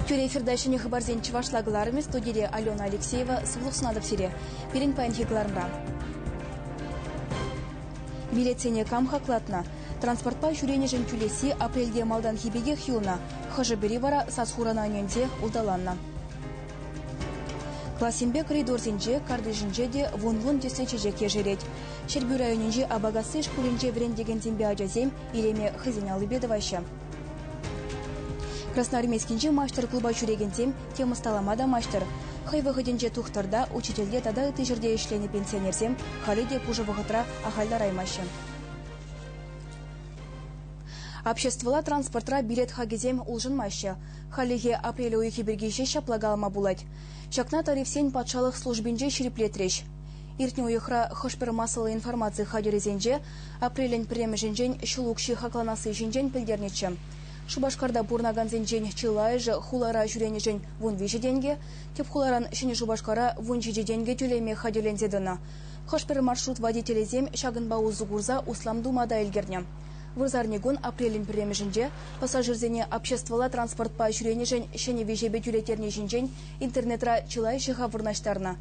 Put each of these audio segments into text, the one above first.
Тӳрӗ эфирта ҫӗнӗ хыпарсен чӑвашла кӑларӑмӗ студире Алена Алексеева сывлӑх сунатӑп сире. Пирӗн паянхи кӑларӑмра. Билетсене кам хаклатнӑ? Транспортпа ҫӳренӗшӗн тӳлесси апрельте малтанхи пекех юлнӑ, хӑшӗ-пӗри вара сас-хурана ӗненсе улталаннӑ. Классемпе коридорсенче, картишӗнче те вун-вун тӗслӗ чечек ешерет. Ҫӗрпӳ районӗнчи Абагасси шкулӗнче вӗрентекенсемпе ачасем илеме хӑйсен аллипе тӑваҫҫӗ. Красноармейскинчи маҫтӑр-клуба ҫӳрекенсем тем ӑсталама та маҫтӑр. Хӑй вӑхӑтӗнче тухтӑрта, учительте тата ытти ҫӗрте ӗҫленӗ пенсионерсем халӗ те пушӑ вӑхӑтра ахаль лараймаҫҫӗ. Обществӑлла транспортра билет хакӗсем улшӑнмаҫҫӗ. Хальлӗхе апрель уйӑхӗ пирки ҫеҫ ҫапла калама пулать. Ҫакна тарифсен патшалӑх службинче ҫирӗплетрӗҫ. Иртнӗ уйӑхра хӑш-пӗр массӑллӑ информаци хатӗрӗсенче апрелӗн пӗрремӗшӗнчен ҫул укҫи хакланасси ҫинчен пӗлтернӗччӗ. Шупашкарта пурӑнакансенчен чылайӑшӗ хулара ҫӳренӗшӗн вун виҫӗ тенкӗ, тӗп хуларан Ҫӗнӗ Шупашкара вун ҫичӗ тенкӗ тӳлеме хатӗрленсе тӑнӑ. Хӑш-пӗр маршрут водителӗсем ҫакӑнпа усӑ курса услам тума та ӗлкӗрнӗ. Вырсарникун апрелӗн пӗрремӗшӗнче пассажирсене обществӑлла транспортпа ҫӳренӗшӗн ҫӗнӗ виҫепе тӳлеттерни ҫинчен интернетра чылай ҫӑхав вырнаҫтарнӑ.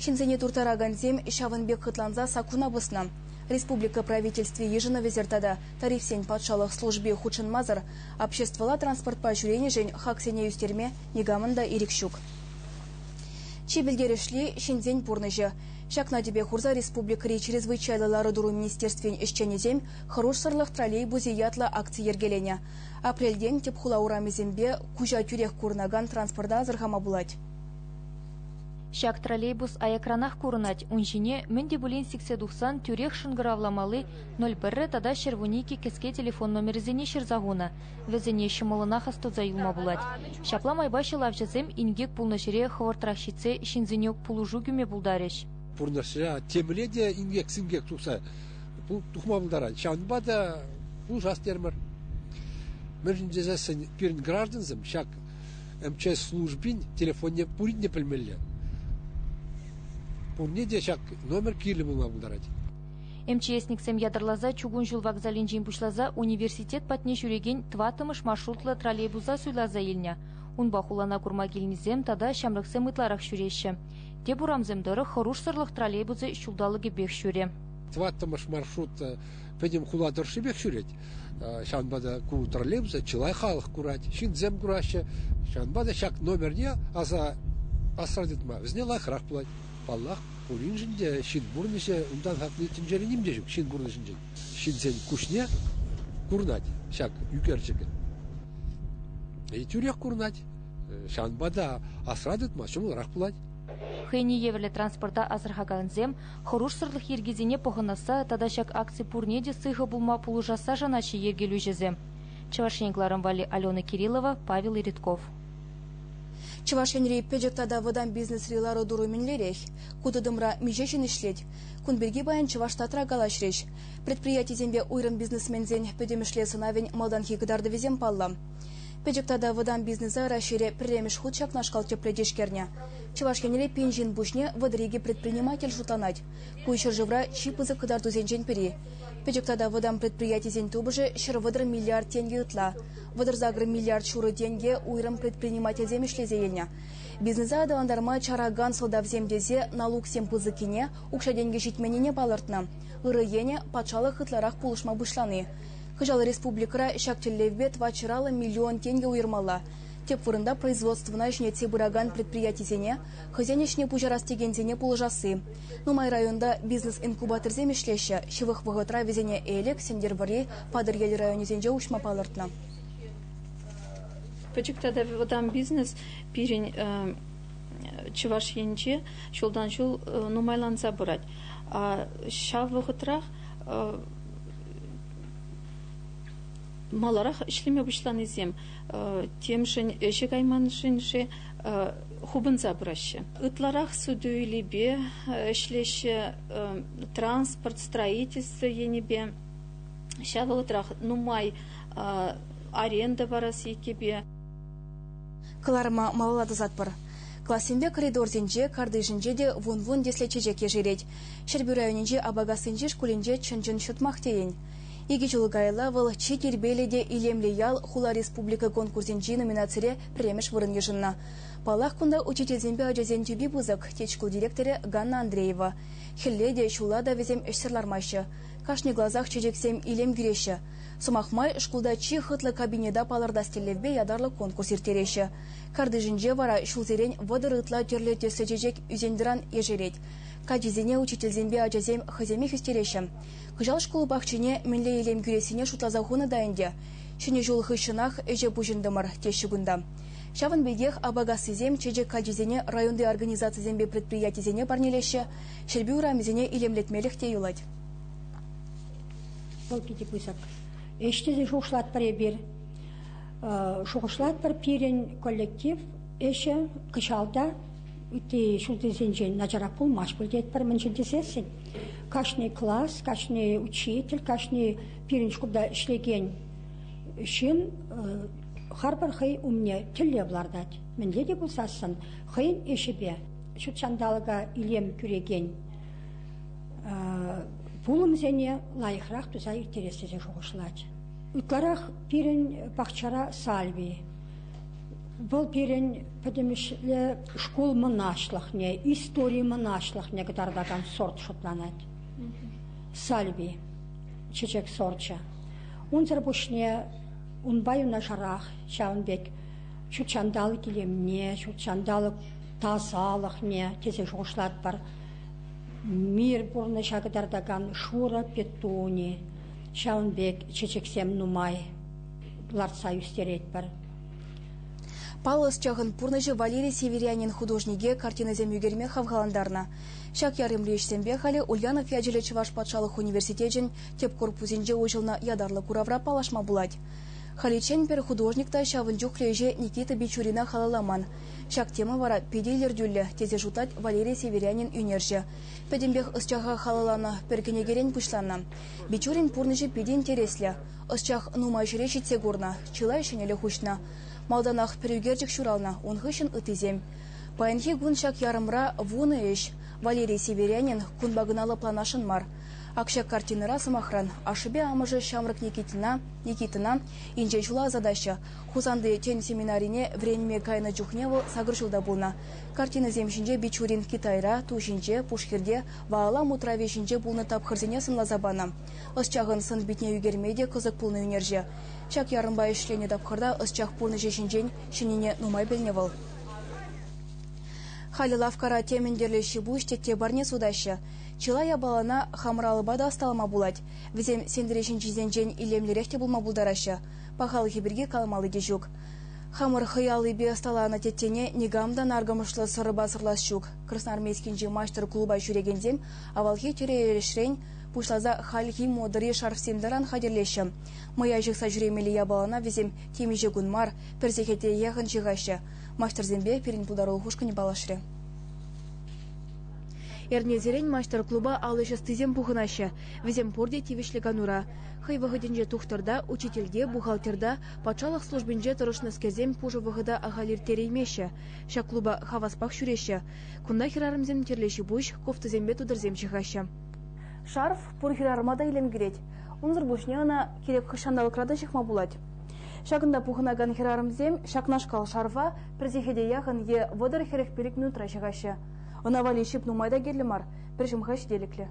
Ҫынсене турттаракансем ҫавӑн пек хӑтланса саккуна пӑснӑ. Республика Правительстви йышӑнӑвӗсӗр тата тарифсен патшалӑх служби хутшӑнмасӑр обществӑлла транспортпа ҫӳренӗшӗн хаксене ӳстерме никамӑн та ирӗк ҫук. Чи пӗлтерӗшли, ҫынсен пурнӑҫӗ. Ҫакна тӗпе хурса республикӑри чрезвычайлӑ лару-тӑру министерствин ӗҫченӗсем Хӑрушсӑрлӑх троллейбусӗ ятлӑ акци йӗркеленӗ. Апрельтен тӗп хула урамӗсемпе куҫа тӳрех курӑнакан транспорта асӑрхама пулать. Ҫак троллейбус аякранах курӑнать, ун ҫине мӗн те пулин сиксе тухсан тӳрех шӑнкӑравламалли 01 тата ҫӗрвунникӗ кӗске телефон номерӗсене ҫырса хунӑ. Вӗсене ҫӑмӑллӑнах астуса юлма пулать. Ҫапла майпа ҫӑлавҫӑсем инкек пулнӑ ҫӗре хӑвӑртрах ҫитсе ҫынсене пулӑшу кӳме пултарӗҫ. Пурнӑҫра темле те инкек-синкек тухса тухма пултарать. Ҫавӑнпа та пулӑшас терӗмӗр. Мӗншӗн тесессӗн пирӗн граждансем ҫак МЧС службин телефонне пурин те пӗлмелле. Пурне те ҫак номер кирлӗ пулма пултарать. МЧСниксем ятарласа чукун ҫул вокзалӗнчен пуҫласа университет патне ҫӳрекен тӑваттӑмӗш маршрутлӑ троллейбуса суйласа илнӗ. Унпа хулана курма килнисем тата ҫамрӑксем ытларах ҫӳреҫҫӗ. Теп урамсем тӑрӑх хӑрушсӑрлӑх троллейбусӗ ҫулталӑкӗпех ҫӳрӗ. Тӑваттӑмӗш маршрут пӗтӗм хула тӑршшипех ҫӳрет. Ҫавӑнпа та ку троллейбуса чылай халӑх курать, ҫынсем кураҫҫӗ. Ҫавӑнпа та ҫак номерне аса асра тытма вӗсене лайӑхрах пулать, паллах. Пуриншӗн те ҫын пурнӑҫӗ унтан хакли тӗнчере ним те ҫук ҫын пурнӑҫӗнчен. Ҫынсен куҫне курӑнать ҫак ӳкерчӗкӗн. И тӳрех курӑнать. Ҫавӑнпа та асра тытма ҫӑмӑлрах пулать. Хӑйне евӗрлӗ транспорта асӑрхакансем хӑрушсӑрлӑх йӗркисене пӑхӑнасса тата ҫак акци пурне те сыхӑ пулма пулӑшасса шанаҫҫӗ йӗркелӳҫӗсем. Чӑваш Ен кӑларӑм валли Алена Кириллова, Павел Редков. Чӑваш Енри пӗчӗк тата вӑтам бизнесри лару-тӑру мӗнлерех? Ку тытӑмра миҫе ҫын ӗҫлет? Кун пирки паян Чӑваш Татра калаҫрӗҫ. Предприятисемпе уйрӑм бизнесменсен пӗтӗмӗшле сӑнавӗн малтанхи кӑтартӑвӗсем паллӑ. Пӗчӗк тата вӑтам бизнеса Раҫҫейре пӗрремӗш хут ҫакнашкал тӗплӗ тишкернӗ. Чӑваш Енре пин ҫын пуҫне вӑтӑр икӗ предприниматель шутланать. Ку ҫӗршывра чи пысӑк кӑтартусенчен пӗри. Пӗчӗк тата вӑтам предприятисен тупӑшӗ ҫӗр вӑтӑр миллиард тенкӗ ытла. Вӑтӑрсакӑр миллиард ҫурӑ тенкӗ уйрӑм предпринимательсем ӗҫлесе илнӗ. Бизнеса аталантарма чаракан сӑлтавсем тесе налуксем пысӑккине, укҫа-тенкӗ ҫитменнине палӑртнӑ. Ырӑ енӗ патшалӑх ытларах пулӑшма пуҫлани. Кӑҫал республикӑра ҫак тӗллевпе тӑватҫӑраллӑ миллион тенкӗ уйӑрмалла. Тӗп вырӑнта производствӑна ӗҫлетсе пыракан предприятисене, хӑйсен ӗҫне пуҫарас текенсене пулӑшасси. Нумай районта бизнес-инкубаторсем ӗҫлеҫҫӗ, ҫывӑх вӑхӑтра вӗсене Элӗк, Сӗнтӗрвӑрри, Патӑрьел районӗсенче уҫма палӑртнӑ. Пӗчӗк тата вӑтам бизнес пирӗн Чӑваш Енче ҫултан ҫул нумайланса пырать. Ҫав вӑхӑтрах маларах ӗҫлеме пуҫланисем темшӗн ӗҫе кайманшӑн-ши хупӑнса пыраҫҫӗ. Ытларах суту-илӳпе ӗҫлеҫҫӗ, транспорт строительство енӗпе Ҫав вӑхӑтрах нумай аренда парас еккӗпе. Кӑларӑма малалла тӑсатпӑр. Классемпе коридорсенче, картишӗнче те вун-вун тӗслӗ чечек ешерет. Ҫӗрпӳ районӗнчи Апакассинчи шкулӗнче чӑн-чӑн ҫутмах тейӗн. Икӗ ҫул каялла вӑл чи тирпейлӗ те илемлӗ ял хула республика конкурсӗнчи номинацире пӗрремӗш вырӑн йышӑннӑ. Паллах, кунта учительсемпе ачасен тӳпи пысӑк, тет шкул директорӗ Ганна Андреева. Хӗлле те, ҫулла та вӗсем ӗҫсӗр лармаҫҫӗ. Кашни класах чечексем илем кӳреҫҫӗ. Сӑмах май, шкулта чи хӑтлӑ кабинета палӑртас тӗллевпе ятарлӑ конкурс ирттереҫҫӗ. Картишӗнче вара ҫулсерен вӑтӑр ытла тӗрлӗ тӗслӗ чечек ӳсен-тӑран ешерет. Каччисене учительсемпе ачасем хӑйсемех ӳстереҫҫӗ. Кӑҫал шкул пахчине мӗнле илем кӳрессине шутласа хунӑ та ӗнтӗ. Ҫӗнӗ ҫул хыҫҫӑнах ӗҫе пуҫӑнтӑмӑр, теҫҫӗ кунта. Ҫавӑн пекех Апакассисем чечек каччисене районти организацисемпе предприятисене парнелеҫҫӗ, Ҫӗрпӳ урамӗсене илемлетмелӗх те юлать. Покити пысӑк. Ӗҫ тесе шухӑшлатпӑр эпир. Шухӑшлатпӑр пирӗн коллектив ӗҫӗ кӑҫал та ытти ҫултисенчен начарах пулмасть пуль тетпӗр мӗншӗн тесессӗн кашни класс, кашни учитель, кашни пирӗн шкулта ӗҫлекен ҫын харпӑр хӑй умне тӗллев лартать. Мӗнле те пулсассӑн хӑйӗн ӗҫӗпе ҫут ҫанталӑка илем кӳрекен пулӑмсене лайӑхрах туса ирттерес тесе шухӑшлать. Ытларах пирӗн пахчара сальви. Вӑл пирӗн пӗтӗмӗшле шкул мӑнаҫлӑхне, истори мӑнаҫлӑхне кӑтартакан сорт шутланать. Сальви, чечек сорчӗ. Унсӑр пуҫне унпа юнашарах ҫавӑн пек ҫут ҫанталӑк илемне, ҫут ҫанталӑк Тасалӑхне тесе шухӑшлатпӑр. Мир пурнӑҫа кӑтартакан шурӑ петуни, ҫавӑн пек чечексем нумай лартса ӳстеретпӗр. Паллӑ ӑсчахӑн пурнӑҫӗ Валерий Северянин художнике картинӑсем ӳкерме хавхалантарнӑ. Ҫак ярӑмри ӗҫсемпе халӗ Ульянов ячӗллӗ Чӑваш патшалӑх университечӗн тӗп корпусӗнче уҫӑлнӑ ятарлӑ куравра паллашма пулать. Халиччен пӗр художник та ҫавӑн чухлӗ ӗҫе Никита Бичурина халалламан. Ҫак тема вара питӗ илӗртӳллӗ, тесе шутлать Валерий Северянин ӳнерҫӗ. Пӗтӗмпех ӑсчаха халалланӑ пӗр кӗнекерен пуҫланнӑ. Бичурин пурнӑҫӗ питӗ интереслӗ. Ӑсчах нумай ҫӗре ҫитсе курнӑ, чылай ҫӗнӗлӗх уҫнӑ. Малтанах пӗр ӳкерчӗк ҫуралнӑ, ун хыҫҫӑн ыттисем. Паянхи кун ҫак ярӑмра вунӑ ӗҫ. Валерий Северянин кунпа кӑна лӑпланасшӑн мар. Ак ҫак картинӑра, сӑмахран, ашшӗпе амӑшӗ ҫамрӑк Никитина, Никитӑна, инҫе ҫула ӑсатаҫҫӗ, Хусанти тӗн семинарине вӗренме кайнӑ чухне вӑл сакӑр ҫулта пулнӑ. Картинӑсем ҫинче бичурин Китайра, ту ҫинче, пушхирте, Ваала мутравӗ ҫинче пулнӑ тапхӑрсене сӑнласа панӑ. Ӑсчахӑн сӑн-питне ӳкерме те кӑсӑк пулнӑ ӳнерҫӗ. Ҫак ярӑмпа ӗҫленӗ тапхӑрта ӑсчах пурнӑҫӗ ҫинчен ҫӗннине нумай пӗлнӗ вӑл. Халӗ лавккара темӗн тӗрлӗ ҫипуҫ тетте парне сутаҫҫӗ. Чылай япалана хамӑр алӑпа та ӑсталама пулать. Вӗсем сентре ҫинчисенчен илемлӗрех те пулма пултараҫҫӗ. Пахалӑхӗ пирки каламалли те ҫук. Хамӑр хӑй аллипе ӑсталанӑ теттене никам та наркӑмӑшлӑ сӑрӑпа сӑрлас ҫук. Красноармейскинчи маҫтӑр клуба ҫӳрекенсем авалхи тӳре-эрешрен пуҫласа хальхи модӑри шарфсем-таран хатӗрлеҫҫӗ. Мӑя ҫыхса ҫӳремелли япалана вӗсем темиҫе кун мар, пӗр сехете яхӑн ҫыхаҫҫӗ. Маҫтӑрсемпе пирӗн пултарулӑх ушкӑнӗ паллашрӗ. Эрнесерен маҫтӑр клуба ал ӗҫ ӑстисем пухӑнаҫҫӗ. Вӗсем пурте тивӗҫлӗ канура. Хӑй вӑхӑтӗнче тухтӑрта, учительте, бухгалтерта, патшалӑх службинче тӑрӑшнӑскерсем пушӑ вӑхӑта ахаль ирттереймеҫҫӗ. Ҫак клуба хаваспах ҫӳреҫҫӗ. Кунта хӗрарӑмсем тӗрлӗ ҫипуҫ, кофтӑсемпе тутӑрсем ҫыхаҫҫӗ. Шарф пур хӗрарӑма та илем кӳрет. Унсӑр пуҫне ӑна кирек хӑш ҫанталӑкра та ҫыхма пулать. Ҫакӑнта пухӑнакан хӗрарӑмсем ҫакнашкал шарфа пӗр сехете яхӑн е вӑтӑр хӗрӗх-пилӗк минутра ҫыхаҫҫӗ. Ӑна валли ҫип нумай та кирлӗ мар, пӗр ҫӑмха ҫителӗклӗ.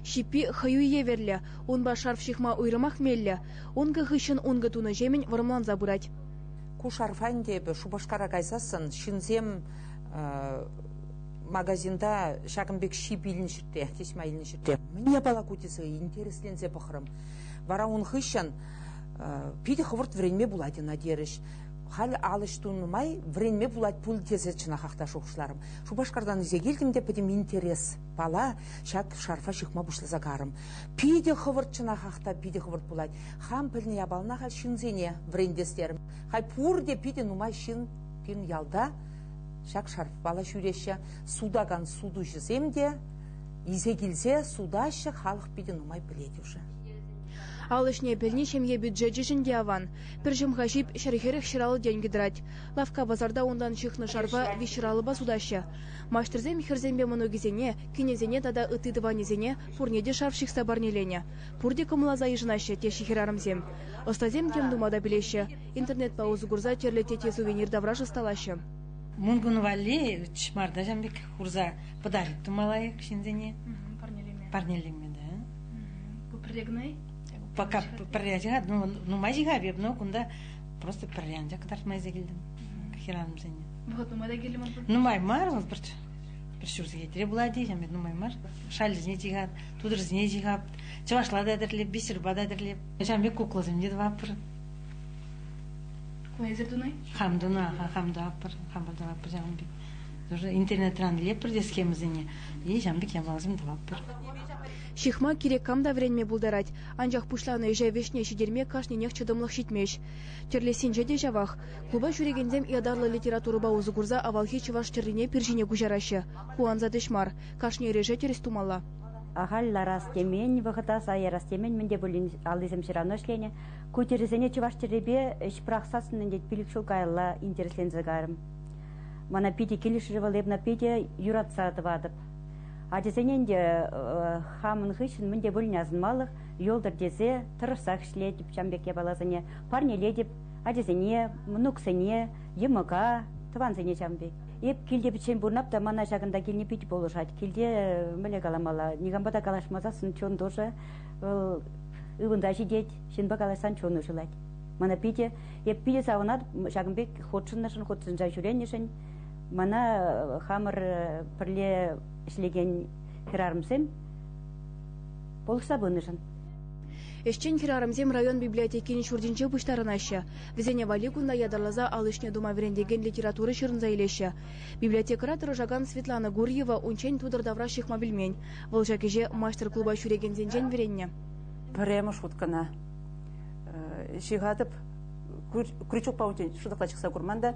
Ҫиппи хӑю евӗрлӗ, унпа шарф ҫыхма уйрӑмах меллӗ, ункӑ хыҫҫӑн ункӑ тунӑҫемӗн вӑрӑмланса пырать. Ку шарфа ӗнтӗ эпӗ Шупашкара кайсассӑн ҫынсем магазинта ҫакӑн пек ҫип илнӗ те, тесма илнӗ те. Мӗн япала ку тесе интересленсе пӑхрӑм. Вара ун хыҫҫӑн питӗ хӑвӑрт вӗренме пулать ӑна терӗҫ. Халь ал ӗҫ тунӑ май вӗренме пулать пуль тесе чӑнахах та шухӑшларӑм. Шупашкартан ӳсе килтӗм те пӗтӗм интерес. Пала, ҫак шарфа ҫыхма пуҫласа карӑм. Питӗ хӑвӑрт чӑнах ахта питӗ хӑвӑрт пулать. Хам пӗлнӗ япалана халь ҫынсене вӗрентес терӗм. Халь пурте питӗ нумай ҫын пин ялта ҫак шарфпала ҫӳреҫҫӗ. Сутакан сутуҫӑсем те исе килсе сутаҫҫӗ, халӑх питӗ нумай пӗлет уже. Ал ӗҫне пӗлни ҫемье бюджечӗшӗн те аван. Пӗр ҫӑмха ҫип ҫӗр-хӗрӗх ҫӗр алӑ тенкӗ тӑрать. Лавкка-пасарта унтан ҫыхнӑ шарфа виҫ ҫӗр алӑпа сутаҫҫӗ. Маҫтӑрсем хӗрсемпе мӑнукӗсене, кинӗсене тата ытти тӑванӗсене пурне те шав ҫыхса парнеленӗ. Пурте кӑмӑлласа йышӑнаҫҫӗ, теҫҫӗ хӗрарӑмсем. Ӑстасем тем тума та пӗлеҫҫӗ, интернетпа усӑ курса тӗрлӗ тете-сувенир тавраш ӑсталаҫҫӗ. Мункун валли чӑмарта ҫавӑн пек хурса пӑтарик тума лайӑх ҫынсене. Парнелеме. Парнелеме, да. Ку пӗрре кӑна-и? Пока пӗрре ҫыхать, ну нумай ҫыхап эп, но кунта просто пӗрре анчах кӑтартма илсе килтӗм хӗрарӑмсене. Вӑхӑт нумай та кирлӗ ман Нумай мар, вӑл пӗр пӗр ҫур сехетре пулать теҫҫӗ, нумай мар. Шаллисене чихат, тутӑрсене чихат, чӑвашла та тӗрлеп, бисерпа та тӗрлеп. Ҫавӑн пек кукласем те тӑваппӑр. Кунайсӑр тунай? Хам тунӑ, хам тӑваппӑр, хам тӑваппӑр ҫавӑн пек. Тоже интернетран илеппӗр те схемӑсене, и ҫавӑн пек япаласем тӑваппӑр. Ҫыхма кирек кам та вӗренме пултарать, анчах пуҫланӑ ӗҫе вӗҫне ҫитерме кашнинех чӑтӑмлӑх ҫитмест. Тӳрлессинче те ҫавах. Клуба ҫӳрекенсем ятарлӑ литературӑпа усӑ курса авалхи чӑваш тӗррине пир ҫине куҫараҫҫӗ. Ку ансат ӗҫ мар. Кашни ӗреше тӗрӗс тумалла. Ахаль ларас темен, вӑхӑта сай ярас темен мӗн те пулин аллисем ҫырана ӗҫленӗ. Ку тӗрӗсене чӑваш тӗррипе ӗҫ пӑрахсассӑн ӗнтӗ пилӗк ҫул каялла интересленсе кайрӑм. Мана питӗ килӗшрӗ вӑл, эп ӑна питӗ юратса тӑватӑп. Ачасене ӗнтӗ хамӑн хыҫҫӑн мӗн те пулин асӑнмалӑх, юлтӑр тесе тӑрӑшсах ӗҫлетӗп ҫам пек япаласене, парнелетӗп ачасене, мӑнуксене, йӑмӑка, тӑвансене ҫам пек. Эп килте пӗччен пурӑнап та мана ҫакӑнта килни питӗ пулӑшать. Килте мӗне каламалла, никампа та калаҫмасан чун тусӗ, вӑл ывӑнта ҫитет, ҫынпа калаҫсан чунӗ шӑлать. Мана питӗ, эп питӗ савӑнатӑп ҫакӑн пек хутшӑннӑшӑн, хутшӑнса ҫӳренӗшӗн. Мана хамӑр пӗрле ӗҫлекен хӗрарӑмсем пӑхса пынӑшӑн. Ӗҫчен хӗрарӑмсем район библиотекин ҫуртӗнче пуҫтарӑнаҫҫӗ. Вӗсене валли кунта ятарласа ал ӗҫне тума вӗрентекен литература ҫырӑнса илеҫҫӗ. Библиотекӑра тӑрӑшакан Светлана Гурьева унччен тутӑр тавра ҫыхма пӗлмен. Вӑл ҫак ӗҫе маҫтӑр-клуба ҫӳрекенсенчен вӗреннӗ. Пӗрремӗш уткӑна ҫыхатӑп. Крючокпа унччен шӑтӑкла чӑхса курман та.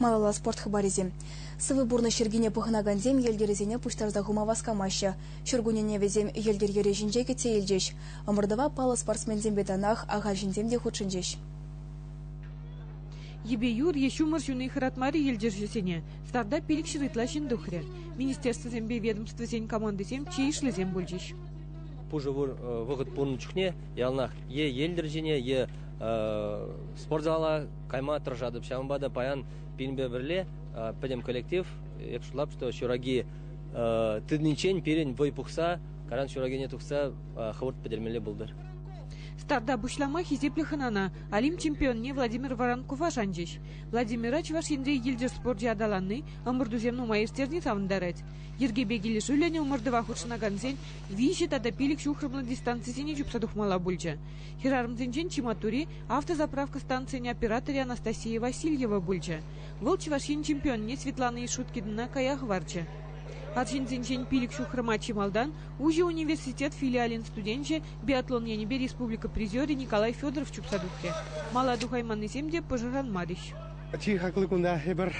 Малалла спорт хыпарӗсем. Сывӑ пурнӑҫ йӗркине пӑхӑнакансем йӗлтӗрӗсене пуҫтарса хума васкамаҫҫӗ. Ҫуркуннене вӗсем йӗлтӗр йӗрӗ ҫинче кӗтсе илчӗҫ. Ӑмӑртӑва паллӑ спортсменсемпе танах ахаль ҫынсем те хутшӑнчӗҫ. Йӗпе юр е ҫумӑр ҫуни хӑратмарӗ йӗлтӗрҫӗсене. Старта пилӗкҫӗр ытла ҫын тухрӗ. Министерствӑсемпе ведомствӑсен командисем чи йышлисем пулчӗҫ. Пушӑ пур вӑхӑт пулнӑ чухне яланах е йӗлтӗр ҫине, е спортзала кайма тӑрӑшатӑп. Ҫавӑнпа та паян пинпе пӗрле пӗтӗм коллектив, эп шутлап, что ҫураки тытнинчен пирӗн вӑй пухса, каран ҫуракине тухса хӑвӑрт пӗтермелле пултӑр. Старта пуҫлама хисеплӗ хӑнана Олимп чемпионне Владимир Воронкова шанчӗҫ. Владимира Чӑваш Енри Йӗлтӗр спорчӗ аталанни ӑмӑртусем нумай ирттерни савӑнтарать. Йӗркепе килӗшӳллӗн ӑмӑртӑва хутшӑнакансен виҫӗ тата пилӗк ҫухрӑмлӑ дистанцисене чупса тухмалла пулчӗ. Хӗрарӑмсенчен чи маттури, автозаправка станцийӗн операторӗ Анастасия Васильева пулчӗ. Вӑл Чӑваш Ен чемпионне Светлана Ишуткинӑна кая хӑварчӗ. Арҫынсенчен пилӗк ҫухрӑма чи малтан уҫӑ университет филиалӗн студенчӗ, биатлон енӗпе республика призерӗ Николай Федоров чупса тухрӗ. Мала тухайманнисем те пӑшӑрханмарӗҫ. Чи хаклӑ куна эпир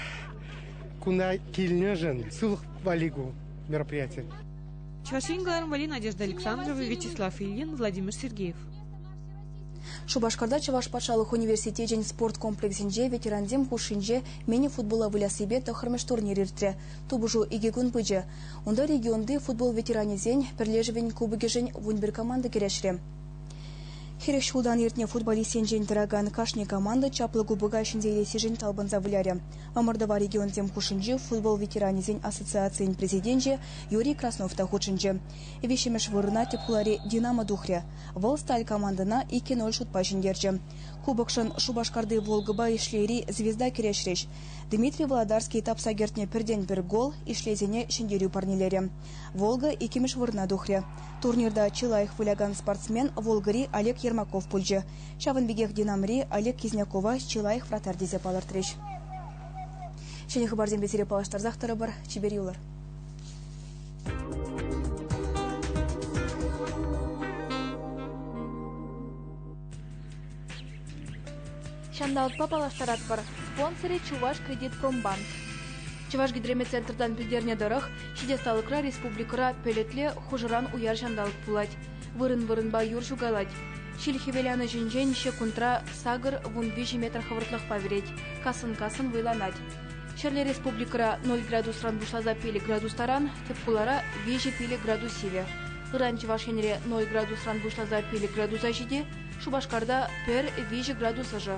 куна килнӗшӗн сывлӑх валли ку мероприяти. Чӑваш Ен кӑларӑмвӗри Надежда Александрова, Вячеслав Ильин, Владимир Сергеев. Шупашкарта Чӑваш патшалӑх университечӗн спорт комплексӗнче ветерансем хушшинче мини-футбола выляссипе тӑххӑрмӗш турнир иртрӗ. Тупӑшу икӗ кун пычӗ. Унта регионти футбол ветеранӗсен пӗрлешӗвӗн кубокӗшӗн вун пӗр команда кӗрешрӗ. Хӗрех ҫултан иртнӗ футболист енчен тӑракан кашни команда чаплӑ кубока ҫӗнсе илессишӗн талпӑнса вылярӗ. Ӑмӑртӑва регионсем хушшинчи футбол ветеранӗсен ассоциацийӗн президенчӗ Юрий Краснов та хутшӑнчӗ. Виҫҫӗмӗш вырӑна тӗп хулари «Динамо» тухрӗ. Вӑл сталь командӑна иккӗн-оль шутпа ҫӗнтерчӗ. Кубокшӑн Шупашкарти Волгӑпа Ишлейри «Звезда» кӗрешрӗҫ. Дмитрий Володарский тапса кӗртнӗ пӗртен-пӗр гол Ишлейсене ҫӗнтерӳ парнелерӗ. «Волга» иккӗмӗш вырӑна тухрӗ. Турнирта чи лайӑх вылякан спортсмен Волгӑри Олег Ермаков пулчӗ. Ҫавӑн пекех Динамри Олег Кизнякова чи лайӑх вратарь тесе палӑртрӗҫ. Ҫӗнӗ хыпарсемпе сире паллаштарсах тӑрӑпӑр. Чипер юлӑр! Ҫанталӑкпа паллаштаратпӑр. Спонсорӗ Чуваш кредитпромбанк. Чӑваш гидрометцентртан пӗлтернӗ тӑрӑх, ҫитес республикӑра пӗлӗтле хушӑран уяр ҫанталӑк пулать. Вырӑн-вырӑнпа юр ҫукалать. Ҫил хӗвеланӑҫӗнчен ҫеккунтра сакӑр вун виҫӗ метр хӑвӑртлӑхпа вӗрет, кассӑн-кассӑн вӑйланать. Ҫӗрле республикӑра 0 градусран пуҫласа пилӗк градус таран, тӗп хулара виҫӗ пилӗк градус сивӗ. Ыран Чӑваш Енре 0 градусран пуҫласа пилӗк градуса ҫити, Шупашкарта пӗр-виҫӗ градус ӑшӑ.